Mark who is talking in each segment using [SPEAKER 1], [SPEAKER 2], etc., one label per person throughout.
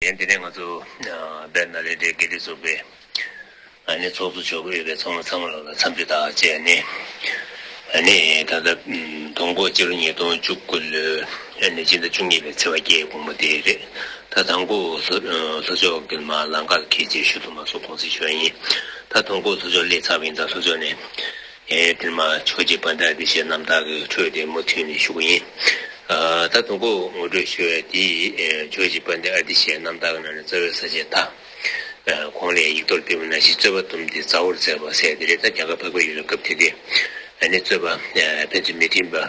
[SPEAKER 1] ཡིན། དེ་ནས་ང་ཚོ་སྦེར་ནཱ་ལེནྡྲའི་དགེ་སྡིག་ཚོགས་པའི་ནི་ཚོགས་གཙོ་མཆོག་གིས་ཡོད་པའི་ཚོགས་མི་ཚང་མ་ལ་འཚམས་འདྲི་དག་བྱས་ནས་ནི་ད་ལྟ་དུང་གོ་སྤྱི་ལོ་ཉིས་སྟོང་བཅུ་དགུ་ལོའི་ནི་སྤྱི་ཟླ་བཅུ་གཉིས་པའི་ཚེས་བ་བརྒྱད་དགོང་མོ་དེ་རེད་ད་དང་གོ་ལྷོ་ཕྱོགས་ཀྱི་མ་ལ་མཁར་གྱི་རྗེས་ཤུལ་དུ་མ་སོ་གོང་ཚིགས་ཞོལ་ཡིན་ད་དུང་གོ་ལྷོ་ཕྱོགས་སླེ་ཚགས་པ་ཡིན་ད་ལྷོ་ཕྱོགས་ནས། ཨེ་དེར་མ་ཆོག་ཅེས་པ་འདྲ་དེ་ཞེས་རྣམ་དག་གི་འཕྲོས་དེ་མུ་མཐུད་ནས་ཞུགས་ཡིན། ད་དང་པོ་ངོ་སྤྲོད་ཞུ་བའི་དེ་ཆོག་ཅེས་པ་འདི་ཨ་དེ་ཞེས་རྣམ་དག་གི་ནང་ནས་རྩ་བའི་ས་བཅད་དག་གོང་ལས་ཡིག་ཐོར་བསྒྲིགས་པ་ན་གཞི་རྩོད་པ་དུམ་དེ་རྩ་བོར་མཛད་པ་གསལ་ཏེ་རེད་ད་རྒྱ་གར་འཕགས་པའི་ཡུལ་ལ་སྐབས་དེ་དུས་ནས་རྩོད་པ་ཕན་ཚུན་མི་མཐུན་པ།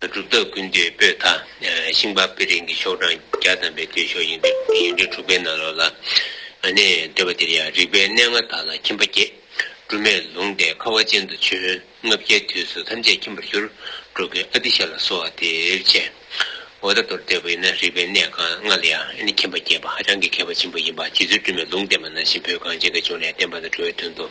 [SPEAKER 1] གྲུབ་རྟགས་ཀུན་འདུས་སྤོས་དག། ཤིང་པགས་པི་རིང་གི་ཤོག་གྲངས་བརྒྱ་བསྡམས་པའི་མདོས་ཤོག་ཡིན་འདུས་ཡོན་ཏན་དྲུག་པའི་ནང་ལོགས་ལ། ནས། འདོད་པ་འདིར་ཡང་རིག་པའི་གནས་ལྔ་དག་ལ་ཁྱིམ་པ་བརྒྱད། སྦྲུམ་མས་ལུང་སྟེ་ཁ་བ་ཅན་དུ་བྱོན། ལྔ་བརྒྱའི་དུས་སུ་ཐམས་ཅད་ཁྱིམ་པར་གྱུར། འགྲོ་ཀུན་ཨ་ཏི་ཤ་ལ་གསོལ་བ་འདིར་བྱས། འོ་ད་དོར་འདོད་པ་ཡིན་ན་རིག་པའི་གནས་གང་ལྔ་ལ་ཡང་ཁྱིམ་པ་བརྒྱད་པ་ཧ་ཅང་གི་མཁས་པ་ཆེན་པོ་ཡིན་པ་གཅིག་ཚུལ་སྦྲུམ་མས་ལུང་བསྟན་པ་ནང་བཞིན་བོད་གངས་ཅན་གྱི་ལྗོངས་ནས་བསྟན་པ་དང་འགྲོ་བའི་དོན་དུ།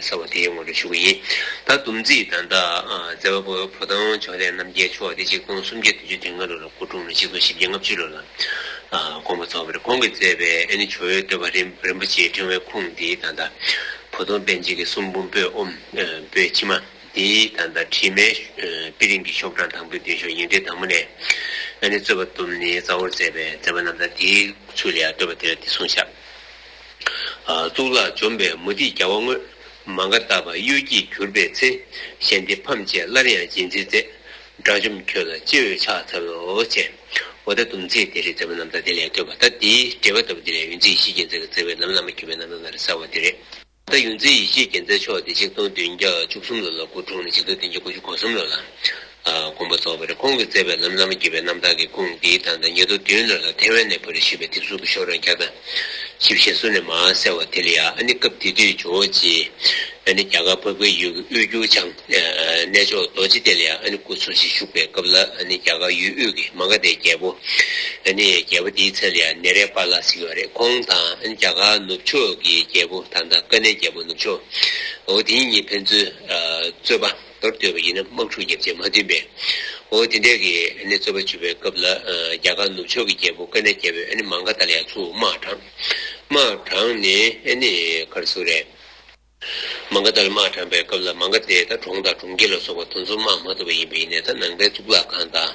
[SPEAKER 1] ཟེར་བ་དེའི་ངོར་དུ་བཞུགས་པ་ཡིན། ད་དུམ་རྩིས་དང་དང། མཛད་པ་པོ་བོ་དང་ཕྱོགས་ལས་རྣམ་རྒྱལ་མཆོག་སྟེ་གཅིག་སྟོང་སུམ་བརྒྱ་བདུན་ཅུ་དོན་ལྔ་ལོ་ལ་སྐུ་འཁྲུངས་ནས་གཅིག་སྟོང་བཞི་བརྒྱ་ལྔ་བཅུ་ལོ་ལ་དགོངས་པ་རྫོགས་པ་རེད་ཁོང་གིས་མཛད་པའི་ཨེ་ནི་ཇོ་བོའི་བསྟོད་པ་རིན་པོ་ཆེའི་ཕྲེང་བའི་ཁུངས་འདི་ད་ལྟ། བོ་དོང་དཔལ་འཇིགས་ཀྱི་གསུང་འབུམ་པོད་དབུམ་པོད་ཕྱི་མ་འདི་ད་ལྟ་བྲིས་མའི་དཔེ་རིང་གི་ཤོག་གྲངས་དང་པོའི་མདུན་ཤོག་ཡིག་འབྲེལ་དང་པོ་ནས་ཨེ་ནི་རྩོད་པ་དུམ་ནི་རྩ་བོར་མཛད་པའི་མཛད་པ་རྣམས་ད་དེའི་ཚུལ་ལ་ཡང་བསྟོད་པ་དེ་ལ་འདི་གསུངས་བཞག། གཙུག་ལག་འཇོམས་པའི་མུ་ཏིག་རྒྱ་བ་དངོས། མ་འགགས་བལྟ་བར་གཡོ་སྒྱུས་གྱུར་པའི་ཚེ། ཞལ་འདི་ཕམ་བཅས་སླར་ཡང་སྦྱིན་མཛད་མཛད། དགྲ་བཅོམ་ཁྱོད་ལ་ཅི་འོས་ཕྱག་འཚལ་ལོ། ཅེས་འོ་ད་དུམ་ཚིག་དེ་རེད་ཟེར་བ་རྣམས་ད་དེ་ལས་ཐོས་པ་ད་དེའི་འགྲེལ་པ་ལྟ་བུ་དེ་ལས་ཡུན་ཚེ་ཡེ་ཤེས་རྒྱལ་མཚན་གྱི་བརྩེ་བས་ལམ་བླ་མ་གྱུར་པའི་རྣམ་གྲངས་ལ་རེ་ས་བ་དེ་རེད། ད་ཡུན་ཚེ་ཡེ་ཤེས་རྒྱལ་མཚན་མཆོག་དེ་ཆིག་སྟོང་བདུན་བརྒྱ་བཅུ་གསུམ་ལོ་ལ་སྐུ་འཁྲུངས་ནས་ཆིག་སྟོང་བདུན་བརྒྱ་དགུ་བཅུ་གོ་གསུམ་ལོ་ལ་མགོན་པོ་རྫོགས་པར་ཁོང་གིས་བསྩལ་པའི་ལམ་བླ་མ་དགྱེས་པའི་རྣམ་དག་གི་ཀུན་འདིའི་དང་ཐ་སྙད་དུ་བདུན་ལ་ལ་ཐེ་ཝན་ནས་བོད་རིགས་ཤིག་པའི་དེབ་གཟུགས་ཀྱི་ཤོག་གྲངས་བརྒྱ་དང་བཞི་བཞེས་སྲོལ་ནས་མ་གསལ་བ་དེ་ལ་ཡང་ཨ་ནི་སྐབས་དེ་དུས་ཇོ་བོ་རྗེ་ཨ་ནི་རྒྱ་གར་བབས་ཁའི་ཡུལ་གྱི་དབུས་འགྱུར་བྱང་གནས་མཆོག་རྡོ་རྗེ་གདན་ལ་ཡང་ཨ་ནི་སྐུ་འཚོ་ཞིང་བཞུགས་པའི་སྐབས་ལ་ཨ་ནི་རྒྱ་གར་ཡུལ་དབུས་ཀྱི་མ་ག་དའི་རྒྱལ་པོ་ཨ་ནི་རྒྱལ་པོ་དེའི་མཚན་ལ་ཡང་ནེ་རེ་པཱ་ལ་ཟེར་གྱི་བ་རེད་ཁོང་དང་ཨ་ནི་རྒྱ་གར་ནུབ་ཕྱོགས་ཀྱི་རྒྱལ་པོ་དང་ཐ་ཀ་ནའི་རྒྱལ་པོ་ནུབ་ཕྱོགས་འོ་དེ་གཉིས་ཕན་ཚུན་རྩོད་པ། མདོར་བསྡུས་པ་ཡིན་ན་དམག་འཁྲུག་བརྒྱབ་རྗེས་མ་བསྟུན་པའི་འོ་དེ་འདྲས་ཀྱི་རྩོད་པ་བྱུས་པའི་སྐབས་ལ་རྒྱ་གར་ནུབ་ཕྱོགས་ཀྱི་རྒྱལ་པོ་ཀ་ནའི་རྒྱལ་པོས་མང་ག་དྷ་ལ་ཡང་ཚུར་དམག་དྲངས། དམག་དྲངས་ནས་ནི་གར་སོ་རས། མང་ག་དྷ་ལ་དམག་དྲངས་པའི་སྐབས་ལ་མང་ག་དྷའི་ད་གྲོང་དང་གྲོང་ཁྱེར་ལ་སོགས་པ་དང་ཚུར་དམག་མ་ཐུབ་པ་ཡིན་པས་ནས་ད་ནང་པའི་གཙུག་ལག་ཁང་དང།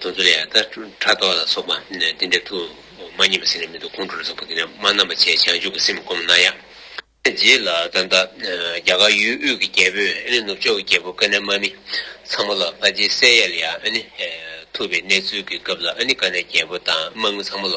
[SPEAKER 1] དོ་ཙོ་ལས། ད་ཕྲག་དོག་ལ་སོགས་པ་འདི་འདྲའི་དུ་མ་གཉིས་པ་ཟིན་ནས་མི་འདུག་ཁོང་ཁྲོ་ལ་སོགས་པ་འདི་འདྲ་མ་རྣམ་པར་བཅད་བྱང་ཆུབ་ཀྱི་སེམས་བསྒོམ་ན་ཡང། རྗེས་ལ་ད་ལྟ་རྒྱ་གར་ཡུལ་དབུས་ཀྱི་རྒྱལ་པོས་ཨ་ནི་ནུབ་ཕྱོགས་ཀྱི་རྒྱལ་པོ་ཀ་ནའི་དམག་མི་ཚང་མ་ལ་ཕ་རྗེའི་སྲས་ཡཱ་ལི་ཡཱ་ཨ་ནི་ཐུབ་པའི་གནས་ཚུལ་གྱི་སྐབས་ལ་ཨ་ནི་ཀ་ནའི་རྒྱལ་པོ་དང་དམག་མི་ཚང་མ་ལ།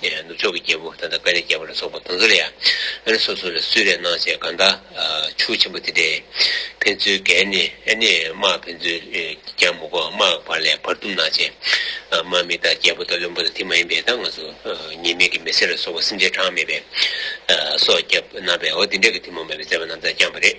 [SPEAKER 1] ནུབ་ཕྱོགས་ཀྱི་རྒྱལ་པོ་ད་ལྟ་ཀ་རའི་རྒྱལ་པོ་ལ་སོགས་པ་དང་ཚོ་ལ་ཡང་ཨ་ནི་སོ་སོ་ལ་སུས་རེ་གནང་བྱས་གང་དག་ཆུ་ཆེན་པོ་དེ་འདྲས་ཕན་ཚུན་བརྒལ་ནས་ཨ་ནི་དམག་ཕན་ཚུན་རྒྱང་མི་གོ་དམག་བར་ལས་བར་སྡུམ་གནང་བྱས། དམག་མི་དག་རྒྱལ་པོ་དང་བློན་པོ་དང་དེ་མ་ཡིན་པའི་ད་ང་ཚོ་ཉེས་མེད་ཀྱི་མི་སེར་ལ་སོགས་པ་སེམས་ཅན་གྲངས་མེད་པས་སྲོག་བསྐྱབས་གནང་བས་འོ་དེ་འདྲས་ཀྱི་ཐུན་མོང་མེད་པའི་མཛད་པ་རྣམས་དག་བསྐྱངས་པ་རེད།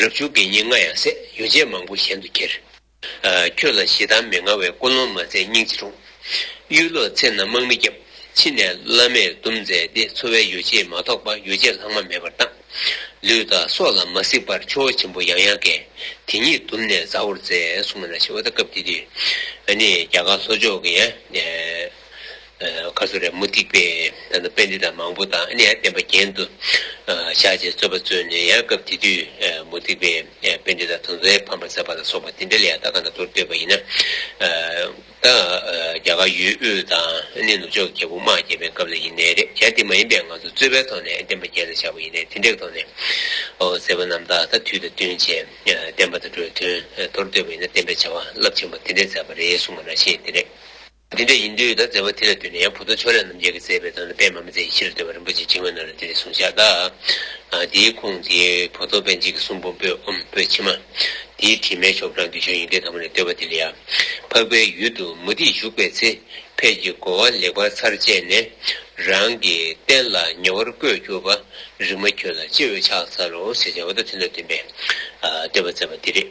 [SPEAKER 1] རབ་བྱུང་གི་ཉིན་ལྔ་ཡང་ཟད་ཡོ་བྱད་མང་པོ་གཞན་དུ་ཁྱེར། ཁྱོད་ལ་ཞེ་སྡང་མི་མངའ་བས་ཀུན་སློང་མ་མཛད་སྙིང་རྗེ་དྲུངས། གཡུལ་ལོ་ཚེ་ན་དམག་མི་བརྒྱབ། ཕྱི་ནས་བླ་མས་སྡུམ་མཛད་དེ་འཚོ་བའི་ཡོ་བྱད་མ་ཐོགས་པ་ཡོ་བྱད་ལྷག་མ་མེད་པར་བཏང། ལུས་དང་སྲོག་ལ་མ་གཟིགས་པར་ཆུ་བོ་ཆེན་པོ་ཡང་ཡང་བཀལ། དེ་ཉིད་སྡུམ་ནས་མཛའ་བོར་མཛད། སུ་མ་ན་ཤི་བ་ད་སྐབས་དེ་དུས། ནི་རྒྱ་གར་ལྷོ་ཕྱོགས་ཀྱི། ཁ་སོ་རས་མུ་ཏིག་པས་དཔེ་འདི་དང་མང་པོ་དང་ཨ་ནི་ཡང་བསྟན་པ་གྱེན་དུ་བཞག་ཅེས་རྩོད་པ་རྩོད་ནས་ཡང་སྐབས་དེ་དུས་མུ་ཏིག་པས་དཔེ་འདི་དང་དོན་རྫས་ཕམ་པར་མཛད་པ་ལ་སོགས་པ་འདི་འདྲ་ལས་ཡང་ད་ག་ན་དོར་བསྟོད་པ་ཡིན་ན། ད་རྒྱ་གར་ཡུལ་དབུས་དང་ཨ་ནི་ནུབ་ཕྱོགས་ཀྱི་རྒྱལ་པོ་དམག་རྒྱལ་པའི་སྐབས་ལ་ཡིན་ནའི་རེད་ཡང་དེ་མ་ཡིན་པའི་ང་ཚོ་རྩོད་པའི་ཐོག་ནས་བསྟན་པ་གྱེན་ལ་བཞག་པ་ཡིན་ནའི་དེ་འདྲའི་ཐོག་ནས་ཟེར་བ་རྣམས་ད་ལྟ་དུས་དང་བསྟུན་བྱས་བསྟན་པ་དང་འགྲོའི་དོན་དོར་བསྟོད་པ་ཡིན་ན་བསྟན་པའི་བྱ་བ་རླབས་ཆེན་པོ་དེ་འདྲས་མཛད་པ་རེད་གསུང་བ་རང་བཞིན་དེ་རེད། འདི་འདྲ་ཡིན་དུས་ད་བརྩེ་བ་དེ་ལ་བསྟུན་ནས་ཡང་བུ་སྟོད་ཕྱོགས་ལས་རྣམ་རྒྱལ་གྱི་བརྩེ་བའི་དོན་ལ་པད་མ་མི་བརྩེ་ཡི་ཕྱིར་བརྩེ་བ་རིན་པོ་ཆེ་བྱིན་ངོ་ན་རེ་དེ་ལས་གསུངས་བྱ། དེའི་ཁུངས་དེ་བུ་སྟོད་པན་ཆེན་གྱི་གསུང་འབུམ་པོད་འབུམ་པོད་ཕྱི་མ། དེའི་བྲིས་མའི་ཆོག་གྲངས་འདི་ཆོས་དབྱིངས་ལྡན་ཐ་མ་ནས་བསྟོད་པ་དེ་ལ་ཡང། འཕགས་པའི་ཡུལ་དུ་མུ་ཏིག་བཞུགས་པའི་ཚེ། ཕས་ཀྱི་བསྒོ་བ་ལེགས་པར་ཚར་བཅད་ནས། རང་གི་བསྟན་ལ་ཉེ་བར་བཀོད་གྱུར་པ། རིག་མ་ཁྱོད་ལ་ཅི་འོས་ཕྱག་འཚལ་ལོ་ཞེས་བྱ་བ་དང་མཐུན་ནོ་བསྟུན་པས་བསྟོད་པ་བསྩལ་བ་འདི་རེད།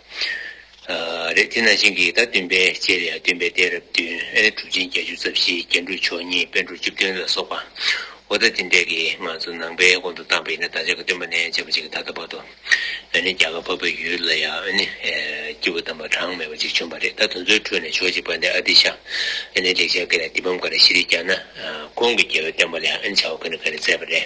[SPEAKER 1] རེད་དེ་ནང་བཞིན་གྱི་ཟླ་བདུན་པའི་རྗེས་ལས་བདུན་པའི་སྟེང་རབས་བདུན་ཨེ་ལེ་གྲུབ་ཆེན་བརྒྱད་ཅུ་རྩ་བཞིའི་རྒྱན་དྲུག་མཆོག་གཉིས་དཔལ་འབྲུག་བཅུ་བདུན་ལ་སོགས་པ་འོ་ད་དེ་འདྲས་ཀྱིས་ང་ཚོ་ནང་པའི་དབང་དུ་བཏང་པ་ཡིན་ན་བདག་ཅག་གི་སྟོན་པ་ནས་བྱེད་པ་ཅིག་ད་ལྟ་བར་དུ་ཨེ་ནི་རྒྱ་གར་འཕགས་པའི་ཡུལ་ལ་ཡང་ཨེ་ནི་སྐྱེས་བུ་དམ་པ་གྲངས་མེད་པ་ཅིག་བྱོན་པ་རེད་ད་དེ་ཚོའི་ཁྲོད་ནས་ཕྱོགས་གཅིག་པ་འདི་ཨ་ཏི་ཤ་ཨེ་ནི་ལེགས་བྱས་ཀྱི་ལ་དེ་བམ་ག་རེ་ཤི་རིག་ཀྱང་ན་ཁོང་གི་རྒྱལ་བའི་བསྟན་པ་ལ་ཨེ་ནི་བྱ་བ་ག་ནི་ག་རེ་མཛད་པ་རེད་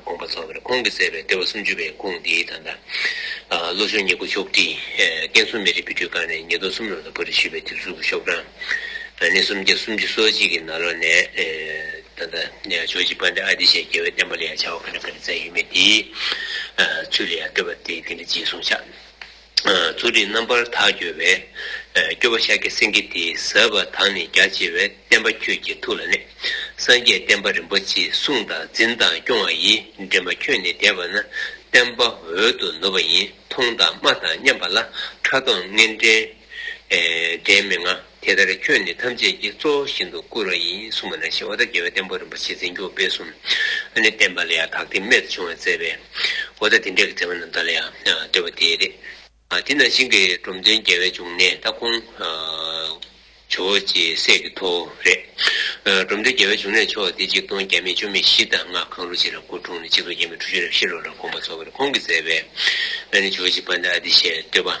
[SPEAKER 1] དགོངས་པ་ཚོགས་པར་ཁོང་གིས་བསྩལ་བའི་ལྟེ་བ་སུམ་ཅུ་པའི་དགོངས་འདིའི་དང་པོ། ལོ་གཞོན་ཉེར་དགུ་ཤོག་ཁྲི། ཀན་སུའུ་མེ་རི་བི་ཁྲུའི་ཀང་རེ་ཉིས་སྟོང་གསུམ་ལོ་ལ་བོད་རིགས་ཞི་བའི་དུས་གཟུགས་ཀྱི་ཤོག་གྲངས། ནི་སུམ་བརྒྱ་སུམ་ཅུ་སོ་གཅིག་གི་ནང་ལོ་ནས། ད་ལྟ། ཇོ་ཇི་པཎ་ཏི་ཨ་ཏི་ཤའི་རྒྱལ་བའི་བསྟན་པ་ལ་ཡང་བྱ་བ་ག་འདྲ་ག་འདྲ་བསྩལ་ཡོད་མེད་དེའི། ཚུལ་ལ་ཡང་ལྟོས་པ་དེ་འདི་འདྲ་གཅིག་གསུངས་ཆ། ཚུལ་ཁྲིམས་རྣམ་པར་དག་འགྱུར་བས། སྐྱོབ་བོ་ཤཱཀྱ་སེང་གེ་དེ་ཟབ་པ་དག་ནི་རྒྱ་ཆེ་བའི་བསྟན་པ་ཁྱོད་ཀྱི་ཐུགས་ལ་གནས། སངས་རྒྱས་བསྟན་པ་རིན་པོ་ཆེའི་གསུང་དང་འཛིན་དང་སྐྱོང་བ་ཡིས་འདྲེན་པ་ཁྱོད་ནི་དད་པ་ན་བསྟན་པ་འོད་དུ་ནུབ་པ་ཡིན་མཐོང་དང་སྨྲ་དང་མཉམ་པ་ལ་ཕྲ་མཐོང་ངན་འདྲེན་མི་མངའ། དེ་ལྟར་ཁྱོད་ནི་ཐམས་ཅད་ཀྱི་གཙོ་བོ་བཞིན་དུ་བཀུར་བ་ཡིན་གསུངས་པ་ན་ཞེས་ཨོ་ད་རྒྱལ་བའི་བསྟན་པ་རིན་པོ་ཆེ་འཛིན་སྐྱོང་སྤེལ་གསུམ་ཨ་ནི་བསྟན་པ་ལ་ཡང་དག་ཐེག་དམན་དུ་བྱུང་བར་མཛད་པས། ཨོ་ད་དེ་འདྲའི་མཛད་པ་རྣམས་དག་ལ་ཡང་འདོད་པ་དེ་རེད། དེས་ན་ཞིང་གི་འབྲོམ་སྟོན་རྒྱལ་བའི་འབྱུང་གནས་སྟ་གོན། ཇོ་བོ་རྗེའི་སྲས་ཀྱི་ཐོ་རེད། འབྲོམ་སྟོན་རྒྱལ་བའི་འབྱུང་གནས་མཆོག་འདི་གཅིག་སྟོང་བརྒྱ་མེད་བཅུ་མེད་བཞི་དང་ལྔ་གང་རུང་གཅིག་ལ་སྐུ་འཁྲུངས་ནས་གཅིག་སྟོང་བརྒྱད་མེད་ཁྲུ་བཞི་རེ་བཞི་ལོ་ལ་དགོངས་པ་རྫོགས་པ་རེ་ཁོང་གིས་མཛད་པས། ཨ་ནི་ཇོ་བོ་རྗེ་སྤ་ན་ཨ་ཏི་ཞེས་འདོད་པ།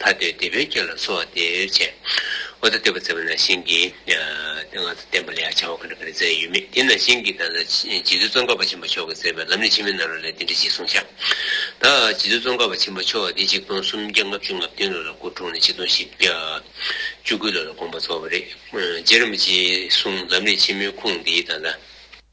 [SPEAKER 1] ཐ་དད་བདེ་བའི་རྒྱལ་ལ་གསོལ་བ་འདེབས། ཅེས་ཨོ་ད་དེ་བ་ཙེ་བ་ན་བཞིན་གྱི། ང་ཚོ་བསྟན་པ་ལ་ཡང་བྱ་བ་ག་འདྲ་ག་རེ་མཛད་ཡོད་མེད་དེ་ན་བཞིན་གྱི་ད་ལ་རྗེ་བཙུན་ཙོང་ཁ་པ་ཆེན་པོ་མཆོག་གིས་མཛད་པའི་ལམ་ནི་ཕྱི་མའི་ནཱ་རོ་ལས་འདི་འདྲ་ཞིག་གསུངས་ཤག། ད་རྗེ་བཙུན་ཙོང་ཁ་པ་ཆེན་པོ་མཆོག་འདི་ཆིག་སྟོང་སུམ་བརྒྱ་ལྔ་བཅུ་ལྔ་བདུན་ལོ་ལ་སྐུ་འཁྲུངས་ནས་ཆིག་སྟོང་བཞི་བརྒྱ་བཅུ་དགུ་ལོ་ལ་དགོངས་པ་རྫོགས་པ་རེད། རྗེ་རིན་པོ་ཆེའི་གསུང་ལམ་ནི་ཕྱི་མའི་ཁུངས་འདི་ད་ལ།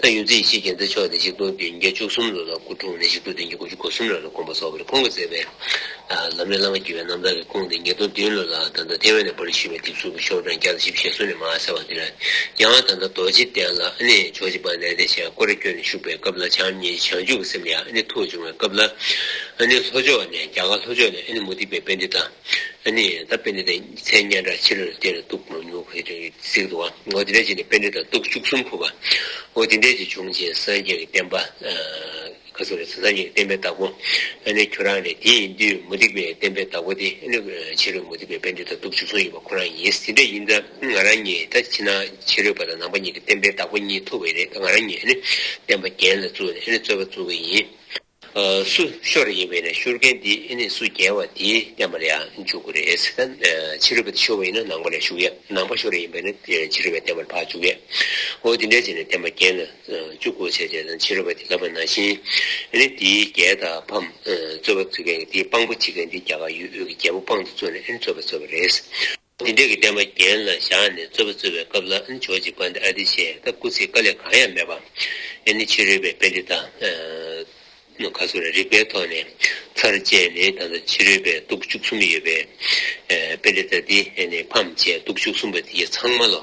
[SPEAKER 1] ད་ཡོད་རྩིས་སྤྱིའི་རྒྱལ་མཚན་མཆོག་དེ་ཆིག་སྟོང་བདུན་བརྒྱ་བཅུ་གསུམ་ལོ་ལ་སྐུ་འཁྲུངས་ནས་ཆིག་སྟོང་བདུན་བརྒྱ་དགུ་བཅུ་གོ་གསུམ་ལོ་ལ་དགོངས་པ་སོགས་པར་ཁོང་གིས་མཛད་པའི། ལམ་རིམ་བླ་མ་བརྒྱུད་པའི་རྣམ་ཐར་གྱི་ཁུངས་དེ་ཉིས་སྟོང་བདུན་ལོ་ལ་ད་ལྟ་ཐེ་ཝན་ནས་པར་རིས་ཞུས་པའི་དེབ་གཟུགས་ཀྱི་ཤོག་གྲངས་བརྒྱ་དང་བཞི་བཅས་གསུམ་ལས་མ་གསལ་བ་འདིར། ཡང་ད་ལྟ་རྡོ་རྗེ་གདན་ལ་ཨ་ནེ་ཇོ་བྱེད་པ་ལས་བདེ་ཆེན་ཀོ་རེ་བསྐྱོད་ནས་བཞུགས་པའི་སྐབས་ལ་བྱམས་སྙིང་བྱང་ཆུབ་ཀྱི་སེམས་ལས་ཨ་ནེ་ཐུགས་འབྱུང་བའི་སྐབས་ལ། ཨ་ནེ་ལྷོ་ཕྱོགས་ནས་རྒྱ་གར་ལྷོ་ཕྱོགས་ནས་ཨ་ནེ་མུ་ཏིག་པའི་དཔེ་འདི་དང། ཨ་ནི། ད་དཔེ་འདི་དང་མཚན་སྙན་གྲགས་ཆེ་ལོད་དེ་ལ་གཏུགས། མོ་ཉུག་ཧེ་ཀྲེ་གཟིགས་འདུག་ཨ། འོ་དེ་འདྲའི་རྗེས་ནས་དཔེ་འདི་དང་གཏུགས་བཅུ་གསུམ་ཕུལ་བ། འོ་དེ་འདྲའི་རྗེས་བྱུང་རྗེས་སངས་རྒྱས་ཀྱི་བསྟན་པ། ཁ་སོ་རེད་སངས་རྒྱས་ཀྱི་བསྟན་པའི་བདག་པོ། ཨ་ནི་ཁྱོད་རང་རེད་དེ་ཡིན་དུས་མུ་སྟེགས་པའི་བསྟན་པའི་བདག་པོ་དེ་ཨ་ནི། ཕྱི་རོལ་མུ་སྟེགས་པའི་དཔེ་འདི་དང་གཏུགས་བཅུ་གསུམ་ཡོད་པ་ཁོ་རང་ཡིན་དེ་འདྲ་ཡིན་ད། ང་རང་གཉིས་ད་ཕྱི་ནང་ཕྱི་རོལ་པ་དང་ནང་པ་གཉིས་ཀྱི་བསྟན་པའི་བདག་པོ་གཉིས་ཐུབ་པ་ཡིན་རེད་ད་ང་རང་གཉིས་ཨ་ནི། བསྟན་པ་རྒྱན་ལ་བཙུགས་ནས་ཨ་ནི་རྩོད་པ་བཙུགས་ཀྱི་ཡིན། སུ་ཤོར་རེ་ཡིན་པ་ཡིན་ན་ཤོར་མཁན་དེ་ཨེ་ནས་སུ་རྒྱལ་བ་དེས་བསྟན་པ་ལ་ཡང་འཇུག་གི་རེད། ཕྱི་རོལ་པ་དེ་ཤོར་བ་ཡིན་ན་ནང་པ་ལས་ཞུགས་ཡས་ནང་པ་ཤོར་རེ་ཡིན་པ་ཡིན་ན་ཕྱི་རོལ་པའི་བསྟན་པར་ཕར་འཇུག་ཡས་འོ་དེ་འདྲའི་བྱས་ནས་བསྟན་པ་རྒྱན་ལ་བཅུག་གོ་བྱས་བྱས་ཙང་ཕྱི་རོལ་པ་དེ་ལབ་པ་ན་བཞིན་ཨེ་ནས་དེའི་རྒྱལ་དང་ཕམ་རྩོད་པ་བརྩོད་མཁན་གྱི་དེའི་དཔང་པོ་བྱེད་མཁན་དེ་རྒྱ་གར་ཡུལ་དབུས་ཀྱི་རྒྱལ་པོ་དཔང་དུ་བརྩོན་ནས་ཨེ་ནས་རྩོད་པ་བརྩོད་པ་རེད། དེ་འབྲས་ཀྱི་བསྟན་པ་རྒྱན་ལ་བཞག་ནས་རྩོད་པ་རྩོད་པའི་སྐབས་ལ་ཇོ་རྗེ་བཀའ་འདི་ཨ་ཏི་བཤད་སྟབས་སྐུ་ཚེའི་བཀའ་ལས་གང་ཡང་མེད་པ། ཨེ་ནི་ཕྱི་རོལ་པའི་དཔེ་འདི་དང། ཁ་སོ་ར་རིག་པའི་ཐོག་ནས་ཚར་བཅད་ནས་ད་ལྟ་ཕྱི་རོལ་པའི་དུག་བཅུ་གསུམ་ཡོད་པའི། དཔེ་འདི་ད་འདི་ནས་ཕམ་བཅད་དུག་བཅུ་གསུམ་པ་དེ་ཚང་མ་ལོ།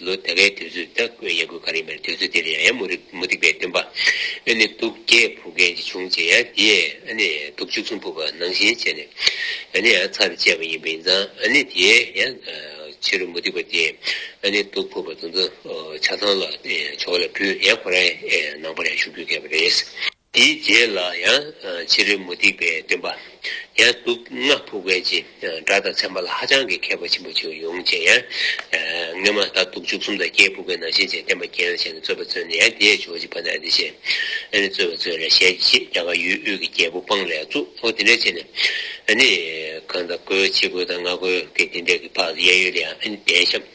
[SPEAKER 1] ལོ་ད་གའི་དུས་ཚོད་ལྟ་སྐུལ་ཡག་དགོས་ག་རེ་མེད་དུས་ཚོད་དེར་ཡང་ཡང་མུ་རིག་མུ་སྟེགས་པའི་སྟོན་པ་ཨ་ནི་གདུགས་བརྒྱད་ཕུག་རྒན་གྱི་བྱུང་བྱས་ཡང་དེས་ཨ་ནི་གདུགས་བཅུ་གསུམ་ཕུག་པ་ནང་བཞིན་བྱས་ནས་ཨ་ནི་ཡང་ཚར་བཅད་པ་ཡིན་པ་ཡིན་ཙང་ཨ་ནི་དེས་ཡང་ཕྱི་རུ་མུ་སྟེགས་པ་དེས་ཨ་ནི་གདུགས་ཕུག་པ་དུ་ཚོ་ཆ་ཚང་ལ་ཕྱོགས་ལ་བུད་ཡང་ཁོ་རང་ནང་པར་ཡང་ཞུགས་རྒྱུ་མཁས་པ་རེད། དེའི་རྗེས་ལ་ཡང་བྱི་རུའི་མུ་ཏིག་པའི་སྟོན་པ། ཡང་དུག་ལྔ་ཕུག་མཁན་གྱི་དགྲ་དང་ཚན་པ་ལ་ཧ་ཅང་གི་མཁས་པ་ཆེན་པོ་བྱུང་ཡོང་ཅེས་ཡང། སྔན་མ་ད་དུག་བཅུ་གསུམ་དང་བརྒྱད་ཕུག་པའི་ནང་བཞིན་ཅེས་བསྟན་པ་རྒྱན་ལ་བྱས་ནས་རྩོད་པ་བརྩོད་ནས་ཡང་དེས་ཕྱོགས་གཅིག་པ་ན་འདི་བྱས། ཨ་ནི་རྩོད་པ་བརྩོད་ལ་ཞལ་གྱིས་ཕྱེས་རྒྱ་གར་ཡུལ་དབུས་ཀྱི་རྒྱལ་པོ་སྤང་ལས་གཙུག་ལྷོ་དེ་འདྲའི་ཆེ་ནས། ཨ་ནི་གང་དང་གོས་ཕྱེད་གོས་དང་ལྔ་གོས་ཀྱི་དེ་འདྲའི་ཀྱི་བར་དུ་གཡས་གཡོན་དུ་ཡང་ཨ་ནི་གདན་བཤམས།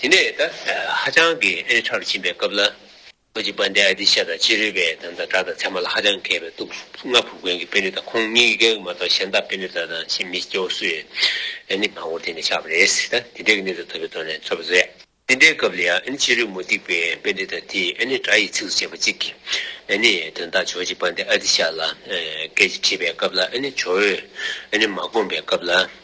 [SPEAKER 1] དེ་ནས་ད་ཧ་ཅང་གི་ཨེ་ཧྲ་རུ་ཕྱིན་པའི་སྐབས་ལ། ཁོ་ཅི་པཱན་དེ་ཨ་ཏི་ཤ་དང་ཅི་རུས་པའི་དམ་དང་གྲྭ་དང་ཚད་མ་ལ་ཧ་ཅང་མཁས་པའི་སྟུག་སྔ་ཕུག་དགོན་གྱི་དཔོན་རིགས་དང་ཁོང་གཉིས་ཀྱི་རྒྱལ་བ་མ་གཏོགས་གཞན་དག་དཔོན་རིགས་དག་དང་ཕྱིས་མི་སྐྱ་བོ་སུ་ཡོད་ཨེ་ནི་མང་བོར་དེ་ནས་ཆགས་པ་རེད་ད་དེ་འདྲའི་གི་གནས་ཚུལ་ཐོབ་པའི་ཐོག་ནས་ཚོར་བ་བཟོ་ཡ། དེ་འདྲའི་སྐབས་ལ་ཡང་ཨེ་ནི་ཅི་རུས་མུ་སྟེགས་པའི་དཔོན་རིགས་དག་དེས་ཨེ་ནི་གྲྭ་ཡི་ཚིགས་སུ་བཅད་པ་གཅིག་གིས་ཨེ་ནི་དོན་དག་ཇོ་ཅི་པཱན་དེ་ཨ་ཏི་ཤ་ལ་སྐད་ཅིག་དྲིས་པའི་སྐབས་ལ་ཨེ་ནི་ཇོ་བོས་ཨེ་ནི་མ་དགོངས་པའི་སྐབས་ལ།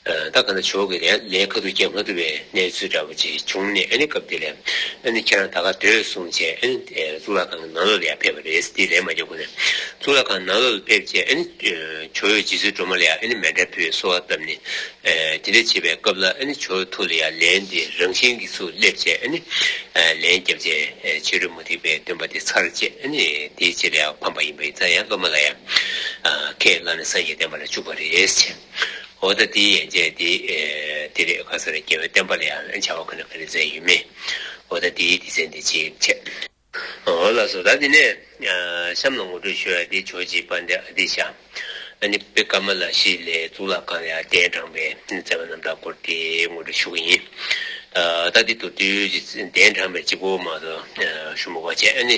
[SPEAKER 1] བདག་ག་ན་ཇོ་གི་ལས་ཁ་ཐུག་རྒྱབ་མ་ཐུབ་པའི་གནས་ཚུལ་འདྲ་པོ་ཅིག་བྱུང་ནས་ཨ་ནི་སྐབས་དེ་ལས་ཨ་ནི་ཁྱེད་རང་ད་ག་སྡོད་གསུངས་རྗེས་ཨ་ནི་གཙུག་ལག་ཁང་གི་ནང་ལོགས་ལ་ཡར་ཕེབས་པ་རེད་དེ་ལས་མ་རྒྱག་ཁུ་ནས་གཙུག་ལག་ཁང་ནང་ལོགས་ལ་ཕེབས་རྗེས་ཨ་ནི་ཇོ་ཡོད་རྗེས་སུ་སྒྲོལ་མ་ལ་ཡང་ཨ་ནི་མལ་དྲ་ཕུད་གསོལ་བ་བཏབ་ནས་དེ་འདྲ་བྱེད་པའི་སྐབས་ལ་ཨ་ནི་ཇོ་ཡོད་ཐུགས་ལ་ཡར་ལན་དེ་རང་བཞིན་གྱིས་སུ་སླེབས་རྗེས་ཨ་ནི་ལན་རྒྱབ་རྗེས་ཕྱི་རོལ་མུ་ཏིག་པའི་སྟོན་པ་དེ་ཚར་རྗེས་ཨ་ནི་དེའི་རྗེས་ལ་ཡང་ཕམ་པ་ཡིན་པ་ཡིན་ཙང་ཡང་སློབ་མ་ལ་ཡང་ཁས་བླངས་ནས་སངས་རྒྱས་བསྟན་པ་ལ་བཅུག་པ་རེད། འོ་ད་དེའི་ཡན་ཆད་དེ་འདི་རེད་ག་ས་རེད་རྒྱལ་བའི་བསྟན་པ་ལ་ཡང་བྱ་བ་ཁོ་ན་ག་རེ་མཛད་ཡོད་མེད། འོ་ད་དེའི་སྡེ་ཚན་དེ་ཅིའི་ཕྱིར། འོ་ལགས་སོ་ད་འདི་ནས་གཤམ་ལ་ངོ་སྤྲོད་ཞུ་ཡ་དེ་ཆོས་རྗེ་པཎྜི་ཏའི་ཤ་ཨ་ནི་པི་ཀ་མ་ལ་ཤཱི་ལའི་གཙུག་ལག་ཁང་ལ་ཡར་ལྡན་དྲངས་པའི་མཛད་པ་རྣམ་དག་སྐོར་དེ་ངོ་སྤྲོད་ཞུ་གི་ཡིན། ད་འདི་མདོ་སྟོད་ཀྱི་གདན་དྲངས་པའི་སྤྱི་བོ་མ་དོ་ཤུ་མོ་བ་ཅན་ཨ་ནི་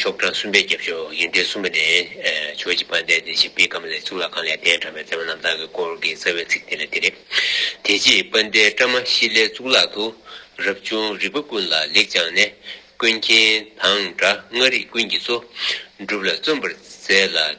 [SPEAKER 1] ཤོག་གྲངས་གསུམ་པའི་རྒྱབ་ཕྱོགས་དབྱིངས་རྟའི་སུམྦྷ་ནས། ཆོས་ཀྱི་ཕ་མཐའི་དེ་བཞིན་པི་ཀམ་ལའི་གཙུག་ལག་ཁང་ལས་གདན་དྲངས་པའི་མཛད་པ་རྣམ་དག་གི་སྐོར་གྱི་རྩ་བའི་ཚིག་དེ་ལ་དེ་རེད། དེ་རྗེས་པ་མཐའི་བཀྲ་མ་ཤིས་ལའི་གཙུག་ལག་ཏུ། རབ་བྱུང་རིག་པ་ཀུན་ལ་ལེགས་སྦྱངས་ནས། ཀུན་མཁྱེན་དང་འདྲ་མངའ་རིགས་ཀུན་གྱི་གཙོ། སྒྲུབ་ལ་བརྩོན་པར་མཛད་ལ།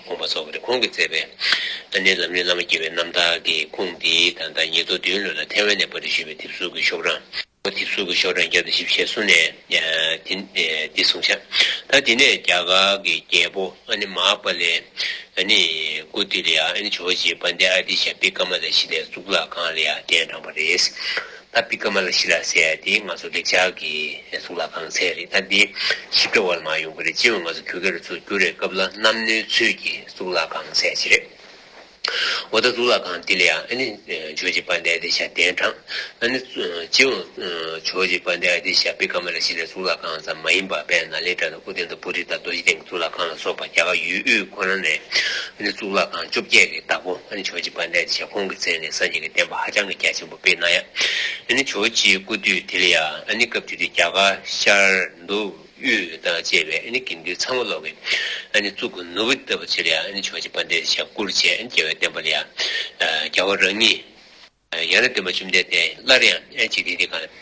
[SPEAKER 1] དགོངས་པ་སོགས་ནི་ཁོང་གིས་མཛད་པའི། ཨ་ནེའི་ལམ་རིམ་བླ་མ་དགྱེས་པའི་རྣམ་ཐར་གྱི་ཁུངས་འདི་དང་ཟླ་ཉི་ལོ་བདུན་ལོན་ལ་ཐེ་ཝན་ནས་པར་རིས་ཞུས་པའི་དེབ་གཟུགས་ཀྱི་ཤོག་གྲངས། དེབ་གཟུགས་ཀྱི་ཤོག་གྲངས་བརྒྱ་དང་བཞི་བཞེས་གསུང་ནས། འདི་གསུང་བྱ། ད་དེ་ནས་རྒྱ་གར་གྱི་རྒྱལ་པོ་ཨ་ནེ་མ་ཧཱ་པཱ་ལའི། ཨ་ནེ། ཀུ་ཏི་ལི་ཡ་ཨ་ནེ་ཇོ་བོ་རྗེའི་དཔལ་ལྡན་ཨ་ཏི་ཤ་པི་ཀ་མ་ལས་གཞི་ནས་གཙུག་ལག་ཁང་ལ་ཡར་གྱན་དྲངས་པ་རེད། ད་པི་ཀ་མ་ལ་ཤི་ལ་ཟེར་ཡ་དེ་ང་ཚོ་འདྲེ་ཇག་གི་གཟུགས་ལ་གང་ཚད་རེད་ད་དེ་ཞིབ་ཕྲ་བ་ལ་མ་ཡོང་གི་རེད་སྤྱི་འོས་ང་ཚོ་གུ་གེ་རུ་ཚུར་བསྐྱུར་རེས་སྐབས་ལ་གནམ་སྣོའི་ཚུལ་གྱི་གཟུགས་ལ་གང་ཚད་ཅི་རེད་འོ་ད་གཟུགས་ལ་གང་དེ་ལ་ཡང་ཨ་ནི་ཇོ་ཇེ་པ་འདའི་དེ་ཤ་གདན་དྲངས་ཨ་ནི་སྤྱི་འོས་ཇོ་ཇེ་པ་འདའི་དེ་ཤ་པི་ཀ་མ་ལ་ཤི་ལའི་གཟུགས་ལ་གང་ཙམ་མ་ཡིན་པ་པད་ན་ལའི་དགྲ་དང་ཨུ་ཏན་དང་པུ་རི་དང་རྡོ་རྗེ་གདན་གྱི་གཟུགས་ལ་གང་ལ་སོགས་པ་རྒྱ་གར་ཡུལ་དབུས་ཁོ་ན་ནས་ཨ་ནི་གཟུགས་ལ་གང་བཅོ་བརྒྱད་ཀྱི་བདག་པོ་ཨ་ནི་ཇོ་ཇེ་པ་འདའི་དེ་ཤ་ཁོང་གི་མཚན་ནས་སངས་རྒྱས་ཀྱི་བསྟན་པ་ཧ་ཅང་གི་རྒྱ་ཆེན་པོ། པའི་ན་ཡ། ཨ་ནི་ཇོ་ཅིའི་སྐུ་དུས་དེ་ལ་ཡ་ཨ་ནི་སྐབས་དེ་དུས་རྒྱ་གར་ཤར་ནུབ་དབུས་དང་བཅས་པའི་ཨ་ནི་དགེ་འདུན་ཚང་མ་ལོག་གི་ཨ་ནི་གཙུག་གི་ནོར་བུ་ལྟ་བུ་བྱས་ལ་ཡ་ཨ་ནི་ཇོ་ཅི་པ་འདེད་བྱ་བཀུར་བྱས་ཨ་ནི་རྒྱལ་བའི་བསྟན་པ་ལ་ཡ་རྒྱལ་བ་རང་ཉིད། ཡང་ན་བདེན་པ་བཅོམ་ལྡན་འདས་སླར་ཡང་ཨ་ནི་འཇིག་རྟེན་འདི་གང།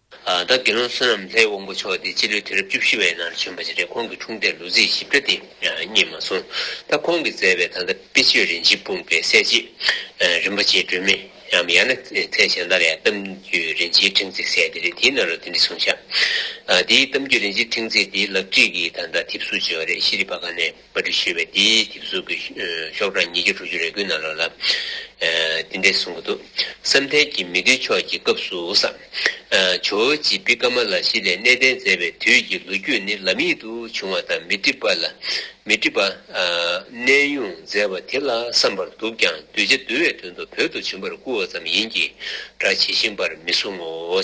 [SPEAKER 1] བདག་དགེ་སློང་བསོད་ནམས་ལྷའི་དབང་པོ་མཆོག་དེ་སྤྱི་ལོའི་དུས་རབས་བཅུ་བཞི་བའི་ནང་བྱོན་པ་ཞིག་རེད་ཁོང་གི་འཁྲུངས་འདས་ལོ་ཚིགས་ཞིབ་ཕྲ་དེ་རྙེད་མ་སོང་ད་ཁོང་གིས་མཛད་པའི་ད་ལྟ་དཔེ་ཆོས་རིན་ཆེན་སྤུངས་པའི་གསལ་བྱེད། རིན་པོ་ཆེའི་སྒྲོན་མེ་འམ་ཡང་ན་ཚེ་བྱང་ལྟར་ཡང་གཏམ་རྒྱུད་རིན་ཆེན་ཕྲེང་ཚེགས་གསལ་དེ་རེད་དེའི་ནང་ལ་དེ་འདྲི་གསུངས་བཞག་དེའི་གཏམ་རྒྱུད་རིན་ཆེན་ཕྲེང་ཚེགས་དེའི་ལག་བྲིས་ཀྱི་ད་ལྟ་དེབ་གཟུགས་བྱས་བ་རེད་ཤེས་རིག་པ་ག་ནས། པ་དྲི་ཞེས་པའི་དེའི་དེབ་གཟུགས་ཀྱི་ཤོག་གྲངས་ཉིས་བརྒྱ་དྲུག་ཅུ་རེ་དགུའི་ནང་ལོགས་ལ། འདི་འདྲས་གསུང་གི་འདུག་བསམ་གཏན་གྱི་མི་བདུན་ཕྱོགས་ཀྱི་སྐབས་སུ་སམ། ཇོ་བོ་རྗེ་བི་ཀ་མ་ལ་ཤཱི་ལས་གནས་བརྟན་མཛད་པའི་དུས་ཀྱི་ལོ་རྒྱུས་ནི་ལམ་ཡིག་ཏུ་བྱུང་བ་དང་མི་འགྲིག་པ་ལ། མི་འགྲིག་པ། གནས་དབྱུང་མཛད་པ་དེ་ལ་བསམ་པར་འདུག་ཀྱང་གདུལ་བྱ་འདུལ་བའི་དོན་དུ་བོད་དུ་བྱིན་པར་བསྐུར་བ་ཙམ་ཡིན་གྱི་སྒྲ་ཇི་བཞིན་པར་མི་གསུང་ངོ།